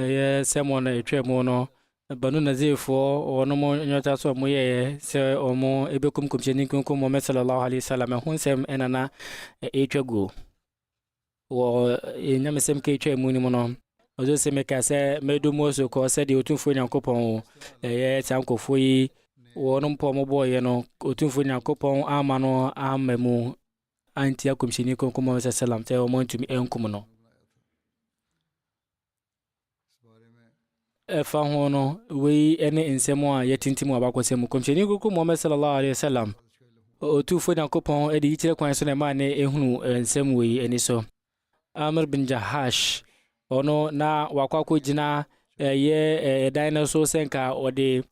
Ɛyɛ sɛmɔ na ɛtwa mu no, Banu Nazirfoɔ wɔn mo nyɔta so wɔn yɛɛ sɛ wɔn ɛbɛkum kɔmhyɛni nkonko Muhammad sallallahu alaihi wasallam ɛho nsɛm ɛna na ɛtwa guo wɔ nyamesɛm ka ɛtwa mu no mu no ɔdze sɛ meka sɛ mɛdu mu so kɔ sɛ deɛ ɔtumfoɔ nyankopɔn wo ɛyɛ saa nkɔfoɔ yi wɔn mpɔ wɔn bɔɔyɛ no ɔtumfoɔ nyankopɔn ama no ama mu antia Kɔmhyɛni Kronkron Muhammad sallallahu alaihi wasallam sɛ wɔantumi ankum no. Ɛfa ho no, wei ne nsɛm a yɛtintim wɔ abakɔsɛm mu. Kɔmhyɛni Kronkron Muhammad sallallahu alaihi wasallam, Otumfoɔ Nyankopɔn de yikyerɛ kwan so na ɛmaa ne ehunu nsɛm wei ani so. Amr bin Jahash, ɔno na wakɔ akɔgyina ɛyɛ ɛdan no so sɛ nka ɔde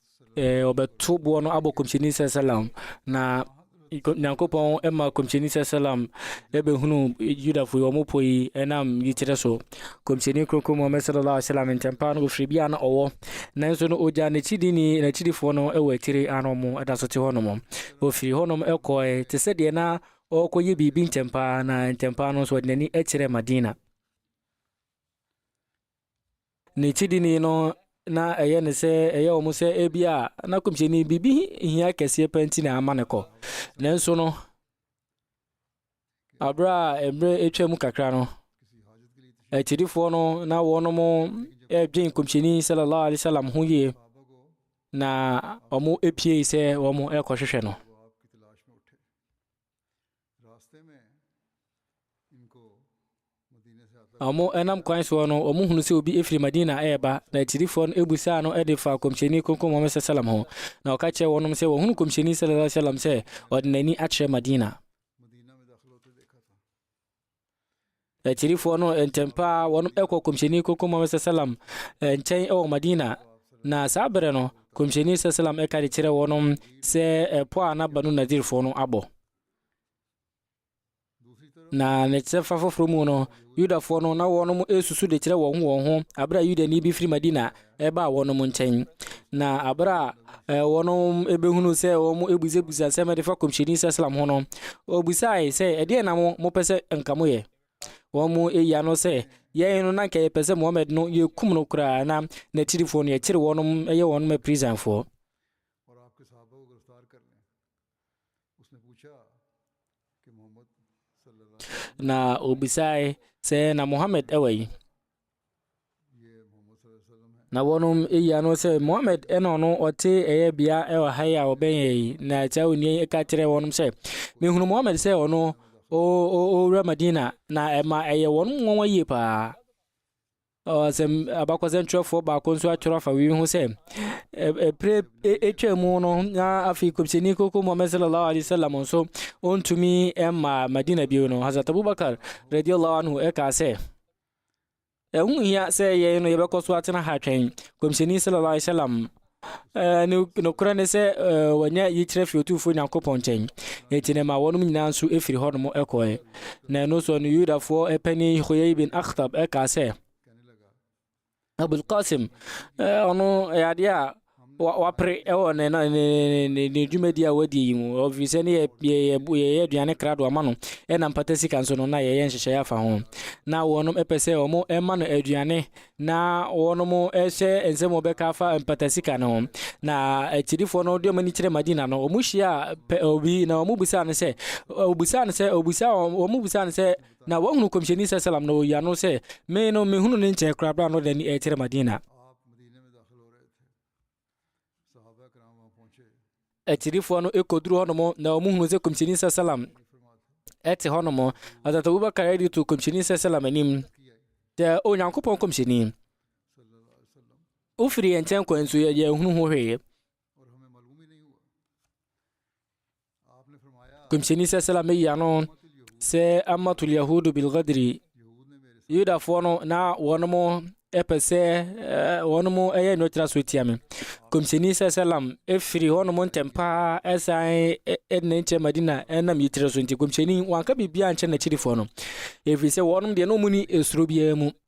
ɔbɛto boɔ no abɔ kɔmhyɛni sɛ salam na nyankopɔn ma kɔmhyɛni sɛ salam ɛbɛhunu yudafo yi ɔmo po yi ɛnam yikyerɛ so kɔmhyɛni kronkron muhammad sallallahu alaihi wasallam nkyɛmpa no ɔfiri bi a na ɔwɔ nanso no ɔgya n'akyidini n'akyidifoɔ no ɛwɔ akyire ano ɔmo ɛda so te hɔ nom ɔfiri hɔ nom ɛkɔɛ te sɛ deɛ na Ɔrekɔyɛ biribi ntɛmpa ara na ntɛmpa ara no nso ɔde n'ani kyerɛɛ Madina. N'akyidini no na ɛyɛ ne sɛ ɛyɛ wɔn sɛ ebi a na kɔmhyɛni biribi hia kɛseɛ pɛ nti na ama ne kɔ nanso no abere a mmerɛ atwa mu kakra no akyidifoɔ no na wɔn ɛredwen kɔmhyɛni sallallahu alaihi wasallam ho yie na wɔn apue sɛ wɔn ɛrekɔhwehwɛ no Na wɔnam kwan soɔ no, wɔhunu sɛ obi firi Madina reba, na akyirifoɔ no busaa no de faa Kɔmhyɛni Kronkron Muhammad sallam ho, na ɔka kyerɛɛ wɔnom sɛ wɔhunu Kɔmhyɛni sallallahu alaihi wasallam sɛ ɔde n'ani akyerɛ Madina. Akyirifoɔ no ntɛm paa wɔkɔ kɔmhyɛni koko Muhammad sallam nkyɛn wɔ Madina, na saa berɛ no kɔmhyɛni sallam ɛka de kyerɛ wɔnom sɛ ɛpɔ a na Banu Nadirfoɔ no abɔ. Na ne kyerɛfa foforɔ mu no, Yudafoɔ no na wɔnom ɛsusu de kyerɛ wɔn ho wɔn ho, aberɛ a Yudani bi firi Madina ɛbaa wɔnom nkyɛn. Na abere a eh, wɔnom ebehunu sɛ wɔn ebusabusa nsɛm de fa kɔmhyɛni sɛslam ho no, obusae sɛ ɛdeɛ na mo mopɛ sɛ nka mo yɛ. Wɔn mu eyi ano sɛ yɛn no na nka yɛpɛ sɛ Muhammad no yɛkum no koraa na n'akyirifoɔ no yɛkyere wɔnom yɛ wɔnom apirisanfoɔ. Na obisae sɛ, Na Muhammad wɔ yi? Na wɔnom eyi ano sɛ, Muhammad na ɔno ɔte ɛyɛ bea wɔ ha yi a ɔbɛn yɛ yi. Na saa onua yi ka kyerɛ wɔnom sɛ, Mehunu Muhammad sɛ ɔno ɔwura Madina, na ɛma ɛyɛ wɔnom nwonwa yie paa. Ɔsɛm abakɔsɛm twerɛfoɔ baako nso atwerɛ afa wei ho sɛ ɛpere ɛtwa mu no na afei kɔmhyɛni koko Muhammad sallallahu alaihi wasallam nso ɔntumi mma Madina bio no Hazrat Abubakar radiallahu anhu ɛkaa sɛ ɛho hia sɛ yɛn no yɛbɛkɔ so atena ha twɛn kɔmhyɛni sallallahu alaihi wasallam Nokorɛ ne sɛ, wɔanya yikyerɛ firi Otumfoɔ Nyankopɔn nkyɛn, enti na ɛmaa wɔnom nyinaa nso firii hɔnom kɔɔɛ. Na ɛno soɔ no, Yudafoɔ panin Huyai bin Akhtab kaa sɛ, Abul Qasim, ɔno yɛ adeɛ a wapere wɔ ne dwumadie a wadie yi mu, ɔfiri sɛ ne yɛyɛ aduane krado ama no, ɛna mpata sika nso no, na yɛyɛ nhyehyɛeɛ afa ho. Na wɔnom pɛ sɛ wɔma no aduane Na wɔnom ɛhyɛ nsɛm wɔbɛka afa mpatasika no ho na akyirifoɔ no de wɔn ani kyerɛ madina no wɔn hyia pɛ obi na wɔn busaa no sɛ obusaa no sɛ obusaa wɔn wɔn busaa no sɛ na wɔhunu kɔmhyɛni sɛ salam na ɔyia no sɛ me no mehunu ne nkyɛn koraa bra no de ani ɛkyerɛ madina akyirifoɔ no kɔduru hɔnom na wɔn hunu sɛ kɔmhyɛni sɛ salam ɛte hɔnom asat abubakar ɛde to kɔmhyɛni sɛ salam anim sɛ onyankopɔn kɔmhyɛni wofiri yɛn nkyɛn kwan so yɛhunu ho hwee Kɔmhyɛni sɛsɛla meyi ano sɛ amatul yahudu bilgadiri yudafoɔ no na wɔn mo ɛpɛ sɛ wɔn mo ɛyɛ nnwɛtira so tia me kɔmhyɛni sɛsɛlam ɛfiri hɔnom ntɛm paa ɛsan ɛdina nkyɛ madina ɛnam yitire so nti kɔmhyɛni wanka biribia nkyɛ n'akyirifoɔ no ɛfiri sɛ wɔnom deɛ na ɔmu ni ɛsuro biara mu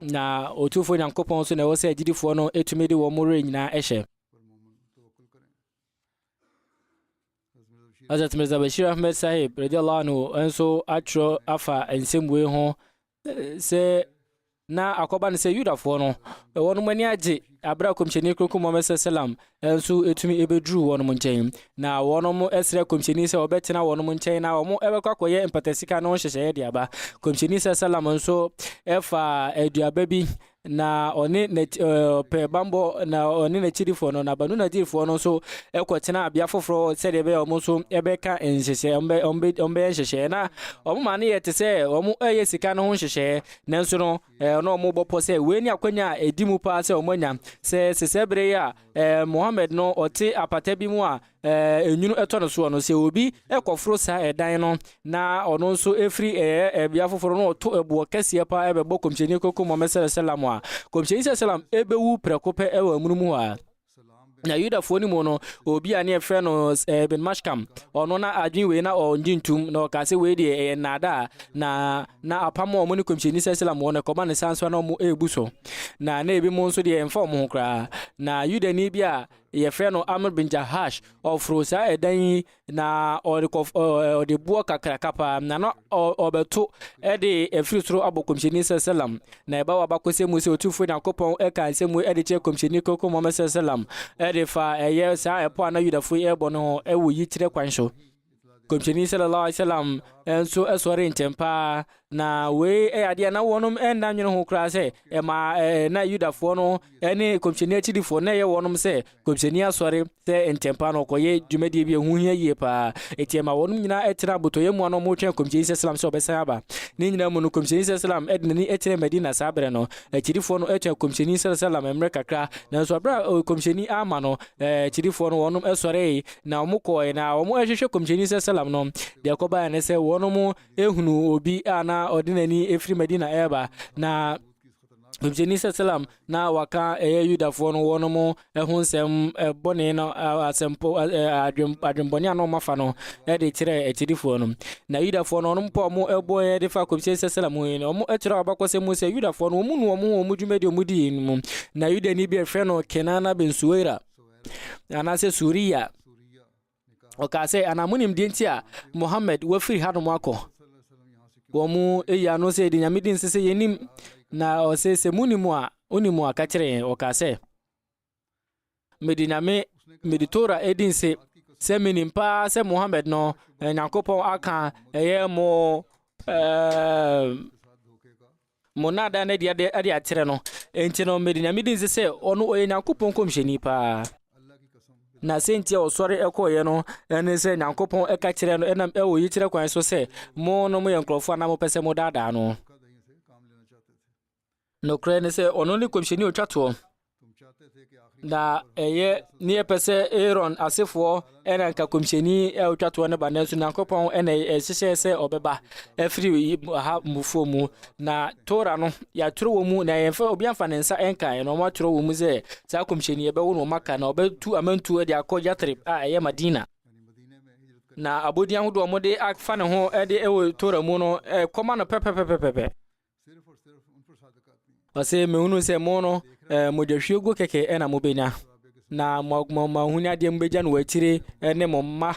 Na Otumfoɔ Nyankopɔn so na ɛwɔ sɛ agyidifoɔ no tumi de wɔn werɛ nyinaa hyɛ. Hazrat Mirza Bashir Ahmed Sahib radiallahu anhu nso atwerɛ afa nsɛm wei ho sɛ na akɔba no sɛ Yudafoɔ no wɔn ani agye Bere a Kɔmhyɛni Kronkron Muhammad sal salam nso tumi beduruu wɔnom nkyɛn, na wɔnom srɛɛ Kɔmhyɛni sɛ ɔbɛtena wɔnom nkyɛn na wɔbɛkɔ akɔyɛ mpatasika no ho nhyehyɛeɛ de aba. Kɔmhyɛni sal salam nso faa aduaba bi na ɔne n'akyi ɛɛ ɔpɛ bammɔ na ɔne n'akyidifoɔ no na Banu Nadirfoɔ no nso kɔtenaa bea foforɔ sɛdeɛ ɛbɛyɛ a wɔn nso bɛka nhyehyɛeɛ wɔn bɛ wɔn bɛ wɔn bɛyɛ nhyehyɛeɛ na wɔn maa no yɛ te sɛ wɔn reyɛ sika no ho nhyehyɛeɛ nanso no Ɛɛ, na wɔbɔ pɔ sɛ wei ne akwanya a ɛdi mu paa sɛ wɔanya. Sɛ sesɛ bere yi a ɛɛ, Mohammed no ɔte apata bi mu a ɛɛ, nwunu tɔ no soɔ no, sɛ obi kɔforo saa ɛdan no na ɔno nso firi ɛɛ, bea foforɔ no ɔto ɛboɔ kɛseɛ paa bɛbɔ Kɔmhyɛni Koko Mohammed sɛlɛ sɛlam a, Kɔmhyɛni sɛlɛ sɛlam bɛwu prɛko pɛ wɔ amonom hɔ ara. Na Yudafoɔ no mu no, obi a ne yɛfrɛ no eh, Ibn Mashkam, ɔno na adwene wei na ɔngye ntum, na ɔkaa sɛ wei deɛ ɛyɛ nnaadaa, na na apam a ɔmo ne kɔmhyɛni sɛ Islam wɔ no ɛkɔba ne saa nso na ɔmo ɛɛbu so, na na ebi mu nso deɛ ɛmfa ɔmo ho koraa. Na Yudani bi a yɛfrɛ no Amr bin Jahash, ɔforoo saa ɛdan yi na ɔde kɔ ɔde boɔ kakraka paa na na ɔbɛto ɛde ɛfiri soro abɔ kɔmhyɛni sɛsɛlam na ɛba wɔ abakɔsɛ mu sɛ ɔtumfoɔ nyankopɔn ɛka nsɛ mu ɛde kyerɛ kɔmhyɛni kɔkɔ mɔmɛ sɛsɛlam ɛde fa ɛyɛ saa ɛpɔ a na yudafoɔ yi ɛbɔ no ho ɛwɔ yikyerɛ kwan so kɔmhyɛni sallallahu alaihi wasallam nso ɛsɔre ntɛm paa Na wei yɛ adeɛ a na wɔnom nna nwene ho koraa sɛ ɛma na Yudafoɔ no ne kɔmhyɛni akyidifoɔ na ɛyɛ wɔnom sɛ kɔmhyɛni asɔre sɛ ntɛmpa no ɔkɔyɛ dwumadie bi a ɛho hia yie paa. Enti ɛma wɔnom nyinaa ɛtena abotɔyɛ mu a na wɔretwɛn kɔmhyɛni sɛ Islam sɛ ɔbɛsan aba. Ne nyinaa mu no, kɔmhyɛni sɛ Islam de n'ani kyerɛ Madina saa berɛ no. Akyidifoɔ no twɛn kɔmhyɛni sɛ Islam mmerɛ kakra, nanso berɛ a kɔmhyɛni amma no, akyidifoɔ no wɔnom sɔree na wɔkɔɔɛ na wɔhwehwɛ kɔmhyɛni sɛ Islam no. Deɛ ɛkɔbaeɛ ne sɛ wɔnom ehunu obi a na ɔde n'ani efiri Madina ɛreba na Ɔmhyɛni sɛ salam na waka ɛyɛ Yudafoɔ no wɔn mo ɛho nsɛm ɛbɔne no asɛmpɔ adwen adwenbɔne a na wɔn afa no ɛde kyerɛ akyirifoɔ no na Yudafoɔ no wɔn pɔ wɔn ɛbɔ ɛde fa Kɔmhyɛni sɛ salam ho yi no wɔn ɛkyerɛ abakɔsɛm mu sɛ Yudafoɔ no wɔn nu wɔn ho wɔn dwumadi wɔn di mu na Yudani bi ɛfrɛ no Kenana bin Suwaira anaasɛ Suriya Ɔkaa sɛ, anaa monim deɛ nti a Muhammad wafiri hanom akɔ? Wɔn mu eyi ano sɛ yɛde nyame di nse sɛ yɛnim. Na ɔsɛ sɛ monim a, onim a ka kyerɛ yɛn. Ɔkaa sɛ, mede nyame, mede Tora edi nse sɛ menim paa sɛ Muhammad no, eh, Nyankopɔn aka ɛyɛ mo ɛɛ eh, Mo nnaadaa no adi ade akyerɛ no, enti no mede Nyame di nse sɛ ɔno ɔyɛ Nyankopɔn nkɔmhyɛni paa. Na sɛnti a ɔsɔre kɔeɛ no ne sɛ Nyankopɔn ka kyerɛɛ no ɛnam ɛwɔ yikyerɛ kwan so sɛ, Mo no moyɛ nkorɔfoɔ a na mopɛ sɛ modaadaa no. Nokorɛ ne sɛ ɔno ne kɔmhyɛni a ɔtwa toɔ. Na ɛyɛ ne yɛpɛ sɛ Aaron asefoɔ ɛna nka kɔmhyɛni a ɔtwa toɔ no ba nanso Nyankopɔn ɛna ɛhyehyɛ sɛ ɔbɛba afiri ha mufoɔ mu na Tora no yɛatwerɛ wɔ mu na yɛmfa obi amfa ne nsa ɛnkaeɛ na wɔatwerɛ wɔ mu sɛ saa kɔmhyɛni ɛbɛwo no ɔmaka na ɔbɛtu amantuo de akɔ Yatrib a ɛyɛ Madina na abɔdin ahodoɔ wɔde afa ne ho ɛde ɛwɔ Tora mu no ɛkɔma no pɛpɛpɛpɛpɛ Ɔse, mehunuu sɛ mo no, eh, mogyahwieguo kɛkɛ na mobɛnya, na mo ahonyadeɛ mobɛgya no wɔ akyire ne mo mma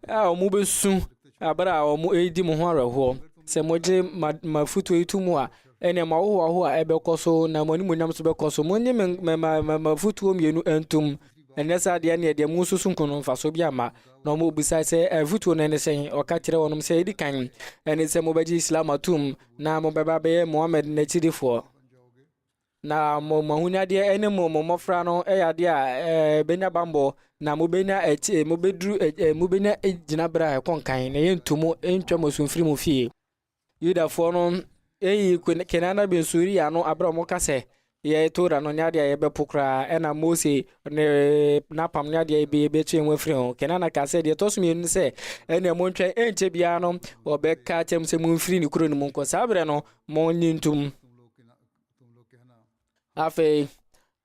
a wɔbɛsu abere a wɔredi mo ho awerɛhoɔ. Sɛ mogye m'afotuo yi to mu a, ɛnna mo ahohoahoa a ɛbɛkɔ so na mo animuonyam nso bɛkɔ so. Monnye m'afotuo mmienu ntom, ɛnyɛ saa deɛ ɛnneɛ deɛ mosusu nko no mfasoɔ bi amma. Na wɔbisae sɛ, Afotuo no ne sɛn? Ɔka kyerɛɛ wɔn sɛ, Ɛdi kan, ɛne sɛ mobɛgye Islam atom, na mobɛba abɛyɛ Muhammad n'akyidifoɔ, na mo mo ahonyadeɛ ne mo mo mmɔfra no yɛ adeɛ a ɛbɛnya bammɔ, na mobɛnya akyi mobɛduru mobɛnya gyinaberɛ a ɛkɔ nkan, na yɛntu mo ntwa mo asu mfiri mo fie. Yudafoɔ no eyi Kenana bin Suria no aberɛ a wɔka sɛ, Yɛ Torah no nyɛ adeɛ a yɛbɛpo koraa, ɛna Mose ne n'apam ne adeɛ bi yɛbɛtwe yɛn ho afiri ho. Kenana kaa sɛ, deɛ ɛtɔ so mmienu ne sɛ, ɛnna montwɛn, ɛnkyɛ biara no wɔbɛka akyerɛ mo sɛ momfiri ne kuro no mu nkɔ. Saa berɛ no, monnye ntom. Afei,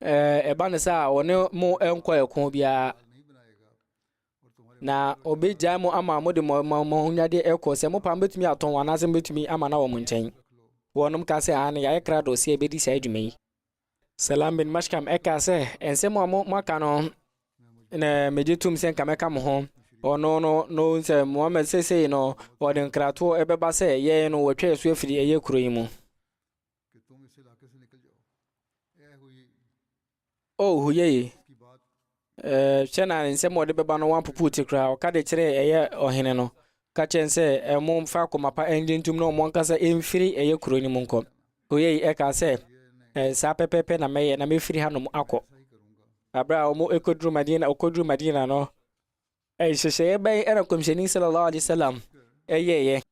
ɛba ne sɛ a wɔne mo nkɔ ɛko biara. Na obegyae mo ama mode mo mo mo ahonyadeɛ ɛkɔ. Sɛ mopɛ a mobɛtumi atɔn wɔn anaasɛ mobɛtumi ama no wɔ mo nkyɛn. Wɔnom kaa sɛ, Aane, yɛayɛ krado sɛ yɛbɛdi saa dwuma yi. Salam bin Mashkam ɛkaa sɛ, Nsɛm a mo moaka no na megye tom sɛ nka mɛka mo ho. Ɔno no na ɔhu sɛ Muhammad seesei no ɔde nkratoɔ ɛbɛba sɛ yɛn no wɔatwa yɛn so afiri ɛyɛ kuro yi mu. Oh, ho yɛ ye. Ɛɛ, hwɛ na nsɛm a ɔde bɛba no wɔapopo ti koraa. Ɔka de kyerɛɛ ɛyɛ ɔhene no, ka kyerɛ no sɛ, ɛɛ, momfa akoma pa ngye ntom na wɔn ankasa mfiri ɛyɛ kuro no mu nkɔ. Ho yɛ ye. Ɛkaa sɛ, ɛɛ, saa pɛpɛɛpɛ na mɛyɛ, na mɛfiri hanom akɔ. Aberɛ a wɔkɔduru Madina, ɔkɔduru Madina no, nhyehyɛeɛ bɛn na Nkɔmhyɛni sallallahu alaihi wasallam yɛeɛ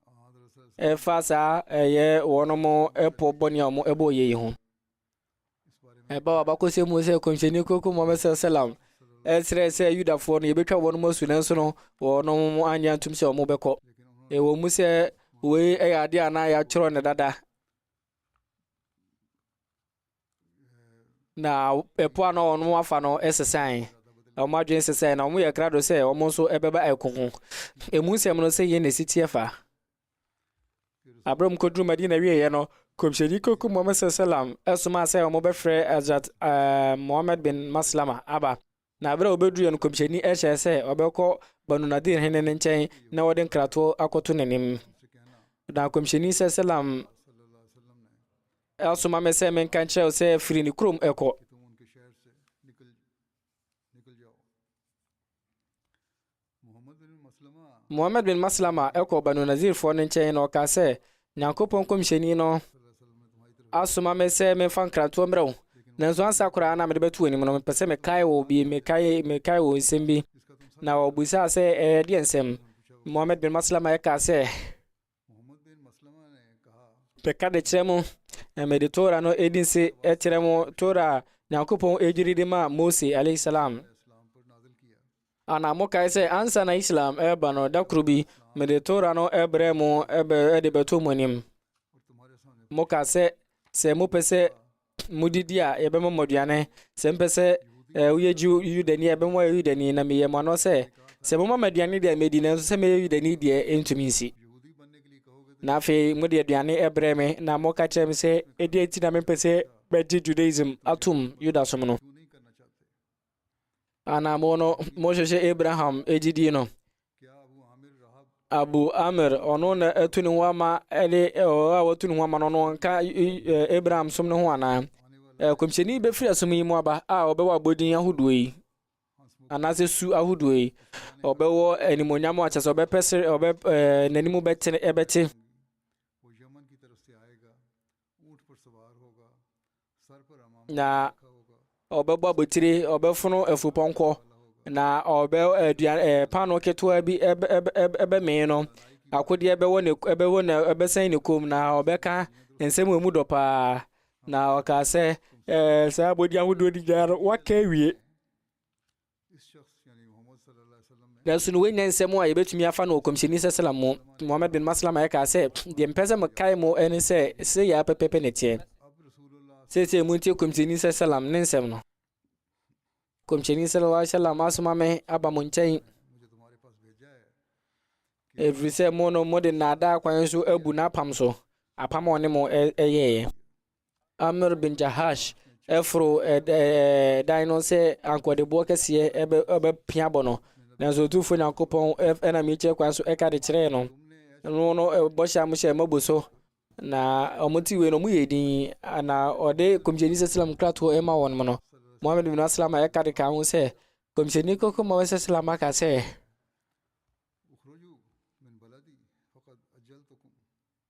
ɛfa saa ɛyɛ wɔn po bɔne a wɔbɔeɛ yi ho? Ɛba w'abakɔsɛm mu sɛ kɔmhyɛni koko Muhammad sallam ɛsrɛ sɛ Yudafoɔ no yɛbɛtwa wɔn mu asu nanso no wɔn mu anyɛ antom sɛ wɔn bɛkɔ. Ɛwɔ mu sɛ wei ɛyɛ adeɛ a na yɛatwerɛ no dada na ɛpo a na wɔn afa no sesae wɔn adwene sesae na wɔn yɛ krado sɛ wɔn nso ɛbɛba ɛko ho emu nsɛm no sɛ yɛn na ɛsi teɛ fa Bere a wɔkɔduruu Madina wieeɛ no, Nkɔmhyɛni Kɔkɔmmɔm Sallam somaa sɛ wɔbɛfrɛ Hazrat uh, Muhammad bin Maslama aba. Na bere a wɔbɛduruiɛ no, Nkɔmhyɛni hyɛɛ sɛ wɔbɛkɔ Banu Nadir hene no nkyɛn na wɔde nkratoɔ akɔto n'anim. Na Nkɔmhyɛni Sallam asoma me sɛ menka nkyerɛ wo sɛ firi ne kurom ɛkɔ Muhammad bin Maslama kɔɔ Banu Nazirfoɔ no nkyɛn na ɔkaa sɛ, Nyankopɔn nkɔmhyɛni no asoma me sɛ memfa nkrantoɔ mmerɛ wo. Nanso ansa koraa na mede bɛto w'anim no, mepɛ sɛ mekae wo bi, mekae, mekae wo nsɛm bi. Na ɔbisaa sɛ, ɛyɛ deɛ nsɛm? Muhammad bin Maslama kaa sɛ, Bɛka de kyerɛ mo, na mede Tora no edi nse kyerɛ mo, Tora a Nyankopɔn edwiri de maa Mose alayhi salam. Ana mokae sɛ ansa na Islam ɛreba no, da koro bi, mede Tora no ɛbrɛ mo ɛbɛ ɛde bɛto mo anim. Moka sɛ, sɛ mopɛ sɛ modidi a, yɛbɛma mo aduane. Sɛ mpɛ sɛ eh, woyɛ Jew Yudani a, yɛbɛma mo ayɛ Yudani, na meyɛ mo ano sɛ, sɛ moma mo aduane deɛ medi, nanso sɛ mɛyɛ Yudani deɛ ɛntumi nsi. Na afei mode aduane ɛbrɛ me, na moka kyerɛ me sɛ, ɛdeɛ nti na mempɛ sɛ bɛgye Judaism atom Yudasom no. Anamo no mohwehwɛ Abraham gyidie no. Abu Amir ɔno na atu ne ho ama ɛde ɔwɔ a watu ne ho ama no ɔno nka Abraham som no ho anaa kɔmhyɛni bɛfiri asom yi mu aba a ɔbɛwɔ abɔdin ahodoɔ yi anaasɛ su ahodoɔ yi ɔbɛwɔ animonyam akyɛ sɛ ɔbɛpɛ sere ɔbɛ ɛɛ n'anim bɛte ɛbɛte. na ɔbɛbɔ abotire, ɔbɛfono afupɔnkɔ, na ɔbɛ aduan ɛɛ paanoo ketewa bi ɛbɛ ɛbɛ ɛbɛmee no. Akodeɛ bɛwɔ ne ɛbɛwɔ ne ɛbɛsɛn ne kɔn mu na ɔbɛka nsɛm a emu dɔ pa ara. Na ɔkaa sɛ, ɛɛ saa abɔdeɛ ahodoɔ no nyinaa no, waka awie. Nanso no wanya nsɛm a yɛbɛtumi afa no ɔkɔmhyɛni sɛsɛlam mu Muhammad bin Maslama ɛkaa sɛ deɛ mpɛ sɛ mekae mu ɛne sɛ sɛ yɛ apɛpɛpɛ ne teɛ seesei mu ntie kɔmhyɛni sɛsɛlam ne nsɛm no kɔmhyɛni sɛlala sɛlam asoma me aba mo nkyɛn ɛfiri sɛ mo no mode nnaadaa kwan so abu n'apam so apam a ɔne mo ɛyɛeɛ Amr bin Jahash foro dan no sɛ ankoɔdeboɔ kɛseɛ ɛbɛpia bɔ no nanso ɔtumfoɔ nyankopɔn ɛna mekyerɛ kwan so ɛka de kyerɛɛ no no no bɔhyɛ a mohyɛ mabu so na ɔmo ti wei no ɔmo yɛ din na ɔde kɔmhyɛni sɛ slam kratoɔ ɛma wɔn mo no mohammed bin aslam a ɛka de ka ho sɛ kɔmhyɛni kɔkɔ ma wɔsɛ slam aka sɛ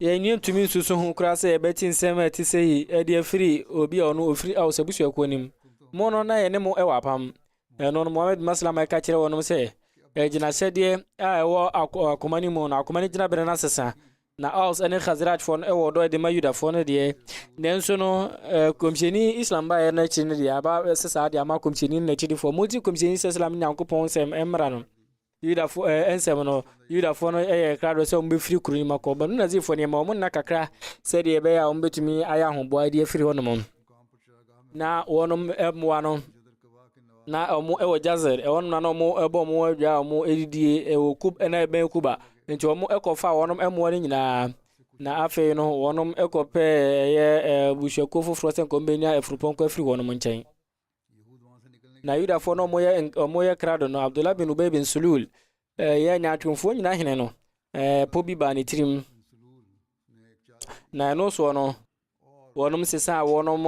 Yɛn ntumi nsusu ho koraa sɛ yɛbɛte nsɛm a ɛte sɛyi de afiri obi a ɔno ɔfiri Aus abusuakuo no mu. Mo no, na yɛne mo wɔ apam. Ɛno no, Muhammad bin Maslama ɛka kyerɛ wɔnom sɛ, Agyinahyɛdeɛ a ɛwɔ akoma no mu no, akoma no gyinaberɛ no asesa. Na Aus ɛne Khazrajfoɔ no ɛwɔ ɔdɔ de ma Yudafoɔ no deɛ. Nanso no, Kɔmhyɛni Islam baeɛ no akyi no deɛ, aba sɛ saa deɛ ama Kɔmhyɛni no n'akyidifoɔ. Monti Kɔmhyɛni Islam ne Nyankopɔn nsɛm mmra no. Yudafo ɛɛ eh, nsɛm no, Yudafoɔ no yɛ krado sɛ wɔbɛfiri kuro no mu akɔ. Banu Nazirfoɔ no yɛma wɔn nna kakra sɛdeɛ ɛbɛyɛ a wɔbɛtumi ayɛ ahoboa de afiri hɔnom. Na wɔn mmoa no, na wɔn wɔ Jazer, ɛhɔnom na na wɔn bɔ wɔn adwa a wɔn didie wɔ Kub na ɛbɛn Kuba. Nti wɔn kɔfa wɔn mmoa no nyinaa. Na afei no, wɔn kɔpɛ ɛyɛ abusuakuo foforɔ sɛ nkɔm bɛnya afurupɔnkɔ afiri wɔn nkyɛn. na yudafoɔ no wɔyɛ wɔyɛ krado no abdullah bin ubay bin sulul ɛyɛ nyaatwomfoɔ nyina hene no ɛɛ po bi baa ne tirim na ɛno soɔ no wɔnom sesaa wɔnom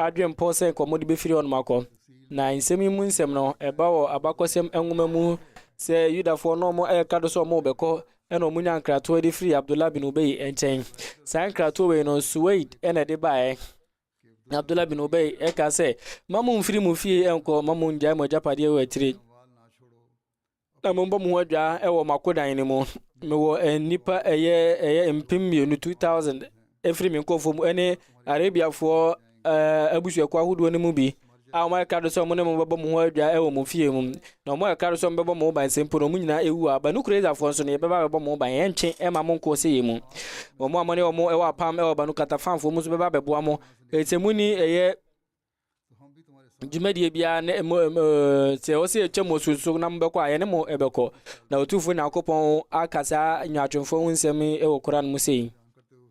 adwempɔ sɛ nkɔmmɔ de bɛfiri wɔnom akɔ na nsɛm yi mu nsɛm no ɛba wɔ abakɔsɛm nwoma mu sɛ yudafoɔ no wɔn ɛyɛ krado sɛ wɔn bɛkɔ ɛna wɔn nya nkratoɔ de firi abdullah bin ubay nkyɛn saa nkratoɔ wei no suwaid ɛna ɛde baeɛ Na Abdullah bin Ubay ɛka sɛ, ma mo mfiri mo fie ɛnkɔ, ma mo ngyae mo agyapadeɛ wɔ akyire. Na mo mbɔ mo ho adwaa ɛwɔ mo akodan no mu. Mewɔ nnipa ɛyɛ ɛyɛ mpem mmienu 2000 ɛfiri me nkɔfoɔ mu ɛne Arabiafoɔ ɛɛ abusuakuo ahodoɔ no mu bi. a wɔka do sɛ wɔne mo bɛbɔ mo ho adwa wɔ mo fie mu, na wɔka do sɛ wɔbɛbɔ mo ho ban sɛ mpo na wɔn nyinaa awu a, Banu Kurayzafoɔ nso no, yɛbɛba abɛbɔ mo ho ban, ɛntwe mma mo nkɔ ɔsɛeɛ mu. Wɔn a wɔne wɔn wɔ apam wɔ Banu Qatafanfoɔ mu nso bɛba abɛboa mo. Enti sɛ monni ɛyɛ dwumadie biara ne mo sɛ ɔsɛ atwa mo so so na mobɛkɔ a, yɛne mo bɛkɔ. Na Otumfoɔ Nyankopɔn aka saa nyaatwomfoɔ ho nsɛm wɔ Koran mu sei.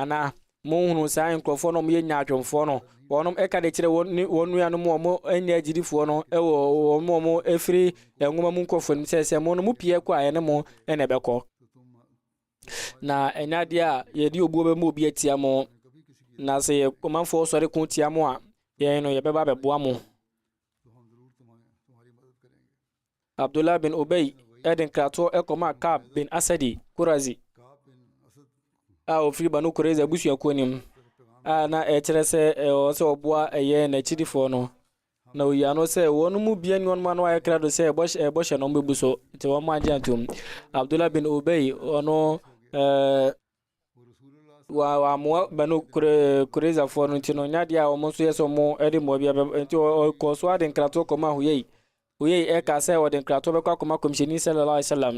Anaa, Monhunu saa nkurɔfoɔ no a wɔyɛ nyaatwomfoɔ no, wɔnom ɛka de kyerɛ wɔn ne wɔn nuanom a wɔn nyɛ agyidifoɔ no ɛwɔ wɔn a wɔn ɛfiri nwoma mu nkurɔfoɔ no sɛ sɛ mo no mo pie kɔ a ɛne mo ɛna ɛbɛkɔ na ɛnyɛ adeɛ a yɛde obuo bɛma obi atia mo na sɛ yɛ ɔmanfoɔ sɔre ko tia mo a yɛn no yɛbɛba abɛboa mo Abdullah bin Ubay de nkratoɔ kɔmaa Ka'b bin Asadi Qurazi a ɔfiri Banu Qurayza abusuakuo no mu a na ɛkyerɛ sɛ ɛwɔ sɛ ɔboa ɛyɛ n'akyidifoɔ no na ɔyi ano sɛ wɔn mu bia ni wɔn ano ayɛ krado sɛ ɛbɔhyɛ no bɛbu so nti wɔn agye antom Abdullah bin Ubay ɔno ɛɛ Wa wɔammoa bɛ no kore korezafoɔ no nti no nyɛ adeɛ a wɔn nso yɛ sɛ wɔn de mmoa bi abɛ nti ɔkɔɔ so ade nkratoɔ kɔmaa huyei huyei ɛka sɛ ɔde nkratoɔ bɛkɔ akɔma kɔmhyɛni sallallahu alaihi wasallam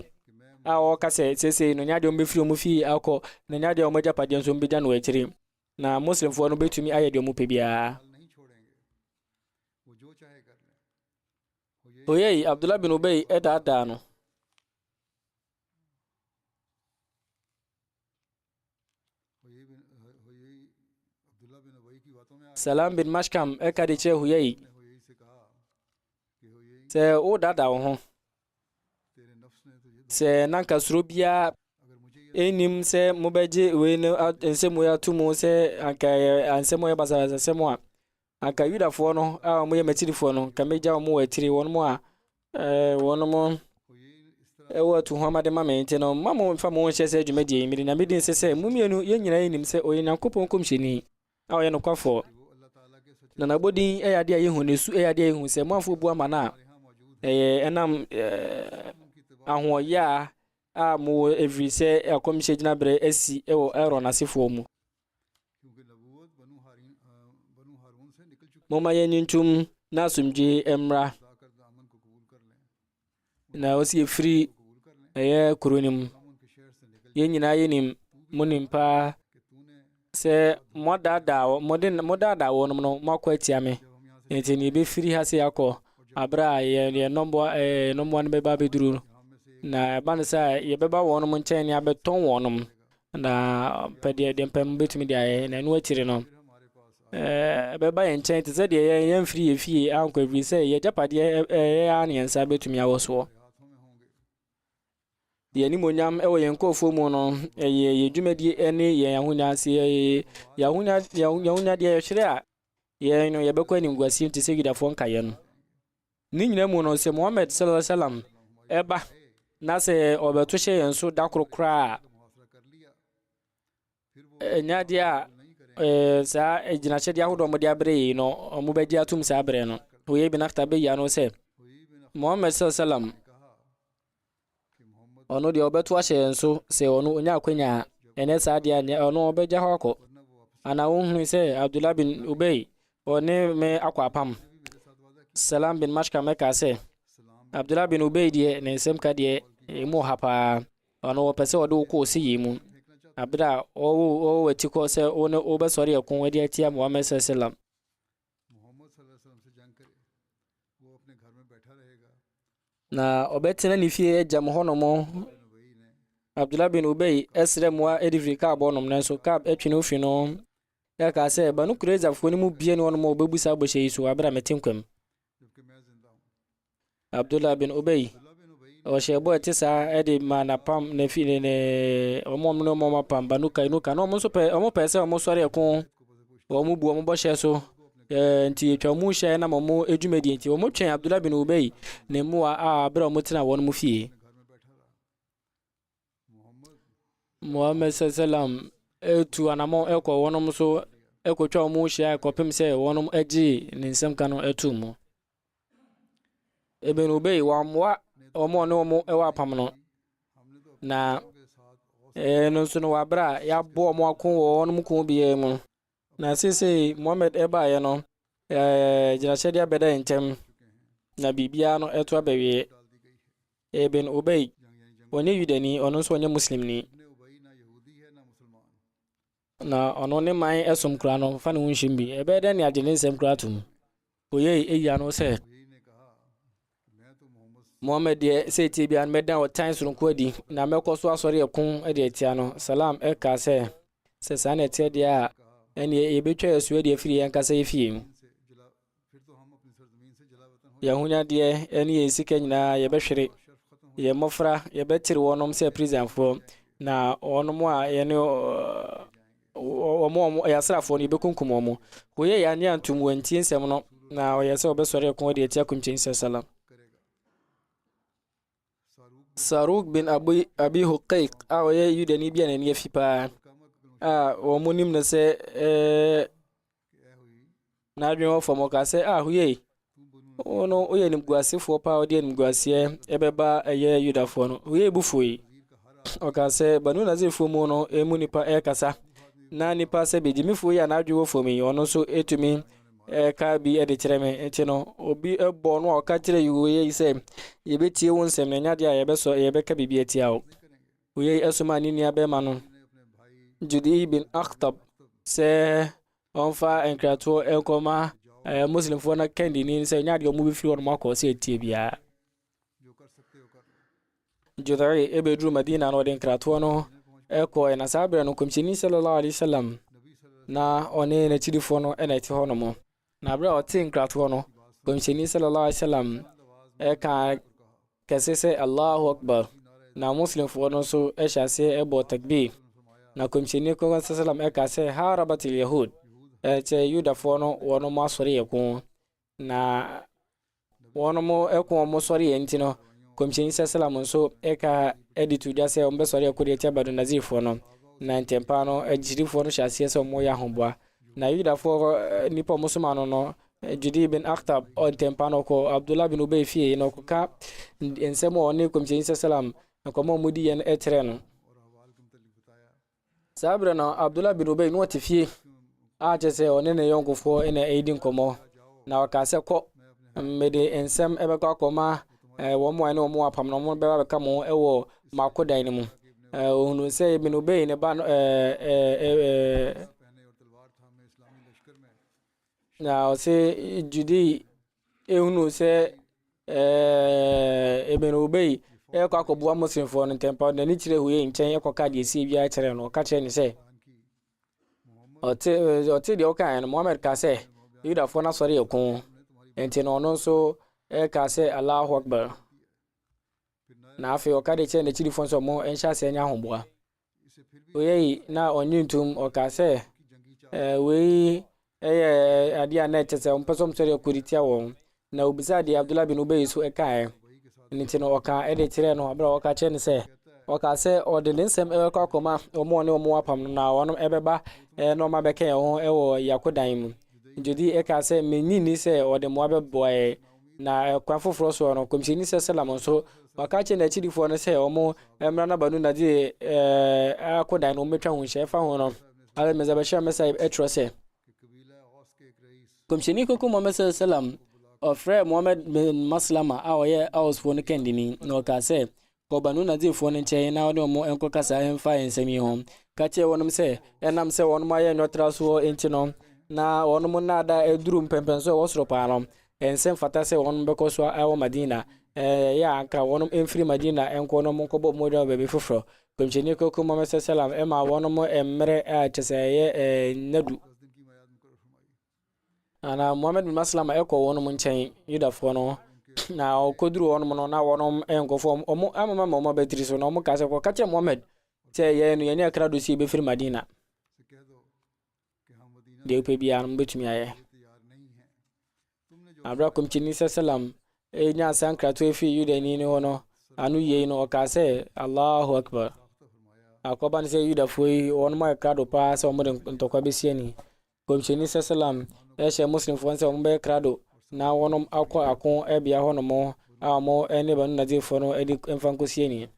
a ɔka sɛ seesei no nyɛ adeɛ wɔn bɛfiri wɔn fie akɔ na nyɛ adeɛ wɔn agyapadeɛ nso wɔn bɛgya no akyiri na muslimfoɔ no bɛtumi ayɛ deɛ wɔn pɛ biara huyei abdullah bin ubay ɛdaadaa no Salam bin Mashkam ɛka de kyerɛ Huyai sɛ wodada wo ho sɛ nanka suro biara ɛnnim sɛ mobɛgye wei no nsɛm wei ato mu sɛ anka nsɛm ɔyɛ basabasa nsɛm a Anka Yudafoɔ no a wɔyɛ m'akyirifoɔ no, anka mɛgya wɔn wɔ akyire, wɔnom a wɔnom wɔ atuhoama de ma me, nti no mma mo mfa mo ho nhyɛ saa dwumadie yi, mede Nyame din nse sɛ, mo mmienu, yɛn nyinaa yɛnim sɛ ɔyɛ Nyankopɔn nkɔmhyɛni a ɔyɛ nokwafoɔ, na n'abɔdin yɛ adeɛ a yɛhu, na ne su yɛ adeɛ a yɛhu, sɛ moamfa obuo ama no a, ɛyɛ ɛnam ahoɔyaa a mowɔ ɛfirisɛ akɔmhyɛ gyinaberɛ asi wɔ Aaron asefoɔ mu. Momma yɛnyi ntom na asomdwoe mmra. Na ɔsi efiri ɛyɛ kuro no mu. Yɛn nyinaa yɛnim mo nim paa sɛ moadaadaa mode modaadaa wɔnom no moakɔ atia me. Nti ne yɛbɛfiri ha se akɔ aberɛ a yɛn yɛn nnɔmmoa ɛɛ eh, nnɔmmoa no bɛba abɛduru. Na ɛba no sɛ yɛbɛba wɔnom nkyɛn ne abɛtɔn wɔnom. Na ɔpɛ deɛ deɛ mpɛ mobɛtumi de ayɛ na ɛno akyiri no ɛbɛba yɛn nkyɛn te sɛ deɛ yɛn yɛn mfiri yɛ fie ankɔ ɛfiri sɛ yɛ agyapadeɛ ɛyɛ ara ne yɛn nsa bɛtumi awɔ soɔ yɛn animonyam wɔ yɛn nkurɔfoɔ mu no ɛyɛ yɛn dwumadie ne yɛn ahonya sɛ yɛn ahonya yɛn ahonyadeɛ yɛhwere a Yɛn no, yɛbɛkɔ animguaseɛ mu te sɛ Yudafoɔ nkaeɛ no. Ne nyinaa mu no, sɛ Muhammad sallallahu alaihi wasallam ɛba na sɛ ɔbɛto hyɛ yɛn so da koro koraa a, ɛnyɛ adeɛ a ɛɛ saa agyinahyɛdeɛ ahodoɔ a wɔde abrɛ yɛn no, wɔbɛgye atom saa berɛ no. Wei bin Akhtab bɛyia no sɛ, Muhammad sallallahu alaihi wasallam Ɔno deɛ ɔbɛto ahyɛ yɛn so sɛ ɔno ɔnya akwanya a, ɛnyɛ saa deɛ a, ɔno ɔbɛgya hɔ akɔ. Ana wonhunu sɛ Abdullah bin Ubay ɔne me akɔ apam? Salam bin Mashkam ɛkaa sɛ, Abdullah bin Ubay deɛ ne nsɛm ka deɛ ɛmu ɔha paa, ɔno ɔpɛ sɛ ɔde wo kɔ ɔsi yie mu. Abere a ɔwɔ ɔwɔ atikɔ sɛ wo ne wobɛsɔre ɛko de atia Muhammad sallam. Muhammad sallallahu alaihi wasallam se jang kare, woh apne ghar mein baitha rahega. Na ɔbɛtena ne fie agya mu hɔnom. Abdullah bin Ubay srɛ mmoa de firi Kaab hɔnom, nanso Kaab twe no fi no. Na kaa sɛ, Banu Kurayzafoɔ no mu bie ne wɔnom a wɔbɛbu saa bɔhyɛ yi so wɔ abere a mete nkwam. Abdullah bin Ubay, ɔhyɛɛ bɔ ɛte saa de maa n'apam na fi ne ne wɔn wɔn ne wɔn apam Banu Kainuka na wɔn nso pɛ wɔn pɛɛ sɛ wɔn sɔre ɛko wɔn bu wɔn bɔhyɛ so ɛɛ nti atwa wɔn hyɛ nam wɔn dwumadie nti wɔn twɛn Abdullah bin Ubay ne mmoa a bere a wɔn tena wɔn mu fie. Muhammad sallam tu anamɔ ɛkɔ wɔnom so ɛkɔtwa wɔn mu hyia ɛkɔpem sɛ wɔnom agye ne nsɛm ka no ato mu. Ibn Ubay wɔammoa wɔn a ɔne wɔn ɛwɔ apam no na ɛno nso no wɔabrɛ a yɛaboa wɔn ako wɔ wɔnom ko biara mu. Na seesei Mohammed baeɛ no, gyinahyɛ de abɛdae ntɛm, na biribiara no ɛto abɛwieɛ. Ibn Ubay, ɔnyɛ Yudani, ɔno nso ɔnyɛ Muslimni. Na ɔno ne man ɛsom koraa no, fa ne ho nhyem bi. Ɛbɛyɛ dɛn ne agye ne nsɛm koraa atom? Wɔyɛɛ eyi ano sɛ, Muhammad deɛ seetie biara no mɛdan ɔtan soronko adi, na mɛkɔ so asɔre ɛko de atia no. Salam ɛkaa sɛ, sɛ saa na ɛteɛ deɛ a, ɛneɛ yɛbɛtwa yɛ so adi afiri yɛn ankasa yɛ fie mu. Yɛn ahonyadeɛ ɛne yɛn sika nyinaa yɛbɛhwere. Yɛn mmɔfra yɛbɛtere wɔnom sɛ prisonfoɔ, na wɔnom a yɛne wɔn a wɔyɛ asraafoɔ no, yɛbɛkunkum wɔn. Wɔyɛɛ annye antom, wɔantie nsɛm no, na wɔyɛɛ sɛ wɔbɛsɔre ako de atia Kɔmhyɛni Sala Salam. Saruk bin Abi, Abi Huqaiq a ɔyɛ Yudani bi a n'ani afi paa a wɔn nim no sɛ ɛɛ N'adwene wɔ fam, ɔka sɛ, Ah, yei, wo no, woyɛ animguasefoɔ paa, wode animguaseɛ ɛbɛba ɛyɛ Yudafoɔ no. Yei bu fui. Ɔka sɛ, Banu Nazirfoɔ mu no, emu nipa ɛrekasa. Na nipa sɛ begyimifoɔ yi a n'adwene wɔ fam yi, ɔno nso ɛtumi ɛka bi de kyerɛ me. Nti no, obi bɔ no a ɔka kyerɛ yei sɛ, yɛbɛtie wo nsɛm na ɛnyɛ adeɛ a yɛbɛsɔ, yɛbɛka biribi atia wo. Wei somaa ne nuabarima no, Judi bin Akhtab, sɛ ɔmfa nkratoɔ nkɔma ɛɛ eh, Muslimfoɔ no kandini sɛ nyɛ adeɛ wɔn bɛfiri wɔn akɔ sɛ ɛtie biara. Judai ɛbɛduru Madina na ɔde nkratoɔ no ɛkɔɛ na saa berɛ no nkɔmhyɛni sallallahu alaihi wasallam na ɔne n'akyidifoɔ no ɛna ɛte hɔ nom. Na berɛ a ɔtee nkratoɔ no, Kɔmhyɛni sallallahu alaihi wasallam ɛka kɛse sɛ Allahu Akbar, na Muslimfoɔ no nso ɛhyɛ aseɛ ɛbɔ takbir. Na Kɔmhyɛni kɔkɔ sallam ɛka sɛ harabatil yahud, ɛkyɛ Yudafoɔ no wɔn asɔre yɛ ko, na Wɔnom ko wɔn sɔreɛ nti no, Kɔmhyɛni sa salam nso ka de to dwa sɛ wɔbɛsɔre ako de atia Banu Nadirfoɔ no. Na ntɛmpaa no, agyidifɔɔ no hyɛ aseɛ sɛ wɔreyɛ ahoboa. Na Yudafoɔ nipa a wɔsomaa no no, Judii bin Akhtab, ntɛmpaa no ɔkɔɔ Abdullah bin Ubay fie na ɔkɔka nsɛm a ɔne Kɔmhyɛni sa salam nkɔmmɔ a wɔdiiɛ no kyerɛɛ no. Saa berɛ no, Abdullah bin Ubay na ɔte fie, a kyerɛ sɛ ɔne ne yɔnkofoɔ na ɛredi nkɔmmɔ, na ɔkaa sɛ, Kɔ, mede nsɛm ɛbɛkɔ akɔma wɔn mu a ne wɔn wɔ apam na wɔn bɛba bɛka mo ho wɔ m'akodan no mu. Ɔhunuu sɛ Ibn Ubay ne ba no Na ɔse Judy ehunu sɛ ɛɛ Ibn Ubay ɛrekɔ akɔboa Muslimfoɔ no ntɛmpa ɔde n'ani kyerɛ Huyay nkyɛn ɛkɔka deɛ ɛsie biara kyerɛ no ɔka kyerɛ no sɛ ɔte ɔte deɛ ɔkaeɛ no Muhammad ka sɛ Yudafoɔ no asɔre yɛ ko nti no ɔno nso ɛka sɛ Allahu Akbar na afei ɔka de kyerɛ n'akyidifoɔ nso ɔmo nhyɛ aseɛ nyɛ ahoboa Oyei na ɔnye ntom, ɔkaa sɛ, eh, wei yɛ adeɛ a na ɛkyɛ sɛ wɔmpɛ sɛ wɔsɔre ɛkɔ de tia wɔn. Na obisaa deɛ Abdullah bin Ubay so ɛkaeɛ. Ɛno nti no ɔkaa ɛde kyerɛɛ no abere a ɔka kyerɛ no sɛ, ɔkaa sɛ ɔde ne nsɛm ɛbɛkɔ akɔma wɔn a ɔne wɔn wɔ apam no na wɔn ɛbɛba ɛɛ na wɔn abɛka yɛn ho ɛwɔ yakodan mu. Judi ɛkaa sɛ, mennye nni sɛ ɔde mmoa bɛboa yɛn. Na kwan foforɔ soɔ no, Kɔmhyɛni sɛ Salam nso, waka akyerɛ n'akyidifoɔ no sɛ wɔn mmra n'abanu Nadir eh, akodan no wɔmmɛtwa ho nhyɛ. Ɛfa ho no, Hazrat Mirza Bashir Ahmed Sahib ɛtwerɛ sɛ, Kɔmhyɛni Kronkron Muhammad sɛ Salam ɔfrɛɛ Muhammad bin Maslama a ɔyɛ Ausfoɔ no kandini, na ɔkaa sɛ, Kɔ Banu-Nadirfoɔ no nkyɛn na wo ne wɔn nkɔkasa mfa nsɛm yi ho. Ka kyerɛ wɔn sɛ, ɛnam sɛ wɔn ayɛ nwɔtrasoɔ nti no, na wɔn nnaadaa aduru mpɛnpɛnsoɔ a ɛwɔ soro paa no, ɛnsɛ mfata sɛ wɔn bɛkɔ so wɔ Madina. Ɛyɛ a anka wɔn mfiri Madina nkɔ na wɔnkɔbɔ mogya wɔ baabi foforɔ. Nkɔmhyɛni Kronkron Muhammad S.A.W. maa wɔn mmerɛ a kyerɛ sɛ ɛyɛ nna du. Ana Muhammad bin Maslama ɛkɔ wɔn mu nkyɛn, Yudafoɔ no, na ɔkɔduru wɔn mu no, na wɔn nkɔfoɔ wɔn amama ma wɔn abatiri so, na wɔn kaa sɛ, kɔka kyerɛ Muhammad sɛ yɛn no yɛne akra do sie bɛfiri Madina. Deɛ wopɛ biara no mobɛtumi ayɛ. Aberɛ a kɔmkyini sɛ salam ɛnya sankrato ɛfiri Yudani no hɔ no, ano yei no ɔkaa sɛ, Allahu Akbar. Akɔba no sɛ Yudafoɔ yi, wɔn ayɛ krado paa sɛ wɔde ntɔkwa bɛsiani. Nkɔmhyɛni sallam hyɛɛ Muslimfoɔ no sɛ wɔn bɛyɛ krado na wɔn akɔ ako bea hɔ nom a wɔn ne Banu Nadirfoɔ no adi mfa nkɔsi ani.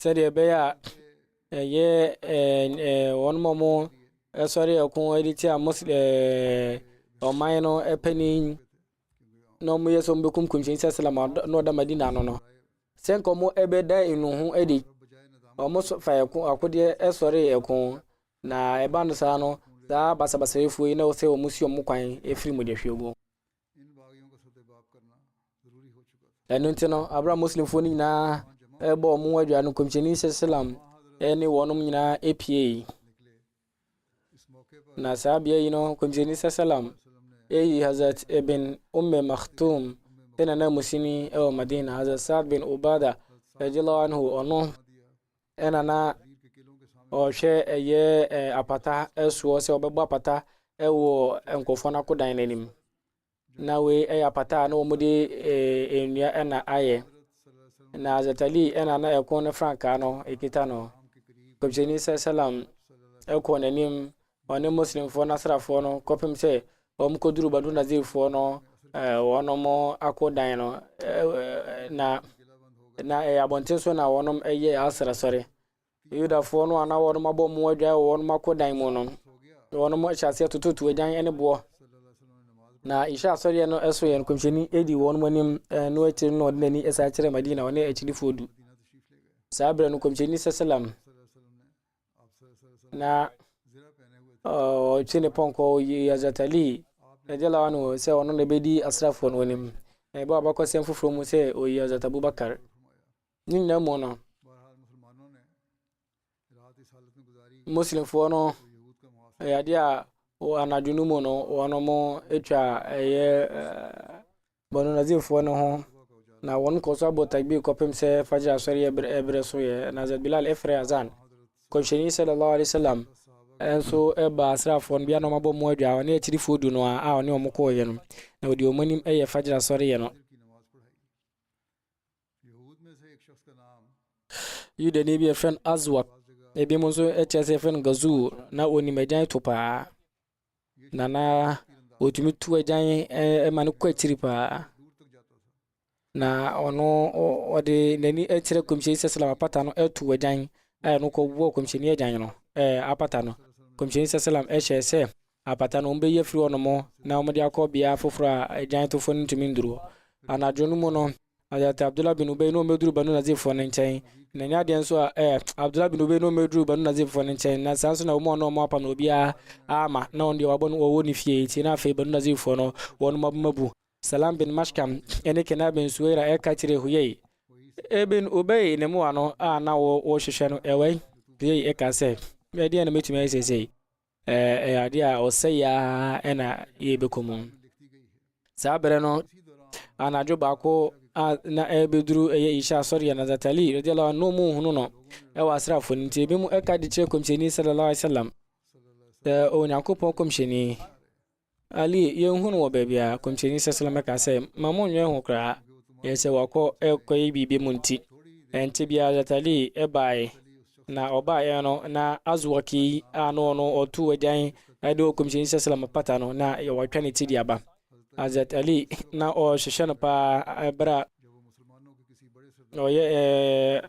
Sɛdeɛ ɛbɛyɛ a ɛyɛ wɔn a wɔn sɔre ɛko de tia Muslim ɔman no panin na wɔyɛ sɛ wɔbɛkum kɔmhyɛni sɛ salam na ɔda madina ano no sɛ nka wɔn ɛbɛda enu ho adi wɔn so fa ɛko akodeɛ ɛsɔre ɛko na ɛba no saa no saa basabasayɛfoɔ yi na wɔsɛ wɔn si wɔn kwan ɛfiri mu de hwɛ gu ɛno nti no abira muslimfoɔ no nyinaa ɛbɔ wɔn adwa no kɔmhyɛni sɛ salam ɛne wɔn nyinaa ɛpie Na saa bea yi no, kɔmhyɛni sasalam eyi Hazrat Ibn Umme Maktoum sɛ nanamusini wɔ Madina, Hazrat Saad bin Ubada radiallahu anhu ɔno ɛna na ɔhwɛ ɛyɛ apata ɛsoɔ sɛ ɔbɛbɔ apata ɛwɔ nkurɔfoɔ no akodan no anim. Na wei yɛ apata a na wɔde eh, nnua na ayɛ. Na Zatali na na ɛko no frankaa no ɛkita no. Kɔmhyɛni sɛ salam ɛkɔɔ n'anim ɔne Muslimfoɔ no asrafoɔ no kɔpem sɛ wɔn kɔduru Banu Nazirfoɔ no eh, wɔn ako dan no eh, eh, na na ɛyɛ abɔnten so na wɔn yɛ asrasɔre. Yudafoɔ no a na wɔnom abɔ mmoa adwan wɔ wɔnom akodan mu no, na wɔnom ahyɛ aseɛ tototo agyan ne boɔ. Na Isha asɔreɛ no so yɛ no kɔmhyɛni ɛdi wɔnom anim, ɛno akyiri no ɔde n'ani ɛsan kyerɛ Madina, ɔne akyidifoɔ du. Saa berɛ no kɔmhyɛni sɛsɛlam na ɔtwe ne pɔnkɔ ɔyi Hazrat Ali radiallahu anhu sɛ ɔno na ɛbɛdi asrafoɔ no anim. Na ɛbɔ abakɔsɛm foforɔ mu sɛ ɔyi Hazrat Abubakar. Ne nyinaa mu no, Muslimfoɔ no ɛyɛ adeɛ a anadwo no mu no wɔatwa ɛyɛ Banu Nadirfoɔ no ho na wɔkɔ so abɔ takbir kɔpem sɛ fajr asɔre ɛberɛ so yɛ na Hazrat Bilal ɛfrɛ azan Kɔmhyɛni sallallahu alaihi wasallam nso ɛba asraafoɔ no bia na wɔabɔ mu adwa ɔne akyirifoɔ du no a a ɔne wɔn kɔɔyɛ no na ɔde wɔn anim ɛyɛ fajr asɔre yɛ no Yudani bi a wɔfrɛ no Aswad, ebinom nso kyerɛ sɛ wɔfrɛ no Ghazur, na onim agyan to paa, na na otumi tu agyan ma no kɔ akyiri paa. Na ɔno ɔde n'ani kyerɛ Kɔmhyɛni Sɛsɛlɛm apata no tu agyan a ɛno kɔbɔ Kɔmhyɛni agyan no ɛɛ apata no. Kɔmhyɛni Sɛsɛlɛm hyɛɛ sɛ Apata no, wɔbɛyi afiri hɔnom na wɔde akɔ beaɛ foforɔ a agyantowfoɔ no ntumi nnuru hɔ. Anadwo no mu no, Hazrat Abdullah bin Ubay ne wɔn bɛduru Banu Nazirfoɔ no nkyɛn, na ɛnyɛ adeɛ nso a ɛɛ, Abdullah bin Ubay ne wɔn bɛduru Banu Nazirfoɔ no nkyɛn, na saa nso na wɔn a na wɔapam no obiara amma, na wɔn deɛ wɔabɔ no wɔwɔ ne fie nti, na afei Banu Nazirfoɔ no wɔn maboma bu. Salam bin Mashkam ne Kinaa bin Suwaira ɛka kyerɛɛ Huyay, Ibn Ubay ne mmoa no a na wɔrehwehwɛ no, ɛwɛn? Huyay ɛkaa sɛ, Ɛdeɛn na mɛtumi ayɛ seesei? Ɛyɛ adeɛ a ɔsɛeɛ ara na yɛbɛkɔ mu. Saa berɛ no, anadwo baako a na ɛrebɛduru ɛyɛ Isha asɔre yɛ na Zatali radiallahu anhu mu hunu no ɛwɔ asraafoɔ no nti ebi mu ɛka de kyerɛ kɔmhyɛni sallallahu alaihi wasallam sɛ Onyankopɔn kɔmhyɛni Ali, yɛnhu no wɔ baabiara. Kɔmhyɛni sɛsɛlɛmɛ ka sɛ, ma mo nnwɛn ho koraa. Yɛ sɛ wakɔ ɛkɔyɛ biribi mu nti. Ɛnte biara Hazrat Ali ɛbaeɛ, na ɔbaeɛ no na Azwaki a na ɔno ɔto agyan ɛde wɔ kɔmhyɛni sɛsɛlɛmɛ pata no na wɔatwa ne ti de aba. Hazrat Ali na ɔrehwehwɛ no paa ɛberɛ a ɔyɛ ɛɛ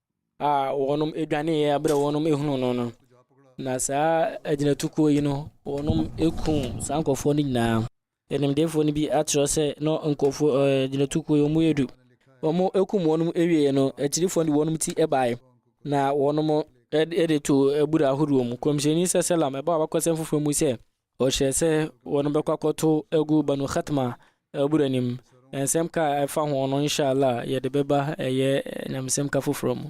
a wɔnom dwaneeɛ berɛ a wɔnom hunuu no no. Na saa agyinatukuo yi no, wɔnom ku saa nkurɔfoɔ no nyinaa. Animdeefoɔ no bi akyerɛ sɛ na nkurɔfoɔ ɛɛ agyinatukuo yi wɔn yɛ du. Wɔn kum wɔn awieeɛ no, akyirifoɔ no de wɔn ti baeɛ na wɔnom de to abura ahodoɔ mu. Kɔmhyɛni sɛ sɛlam ɛbɔ abakɔsɛm foforɔ mu sɛ, Ɔhyɛɛ sɛ wɔbɛkɔ akɔto agu Banu Khatma abura anim. Nsɛm ka a ɛfa ho no, inshallah, yɛde bɛba ɛyɛ nyamesɛm ka foforɔ mu.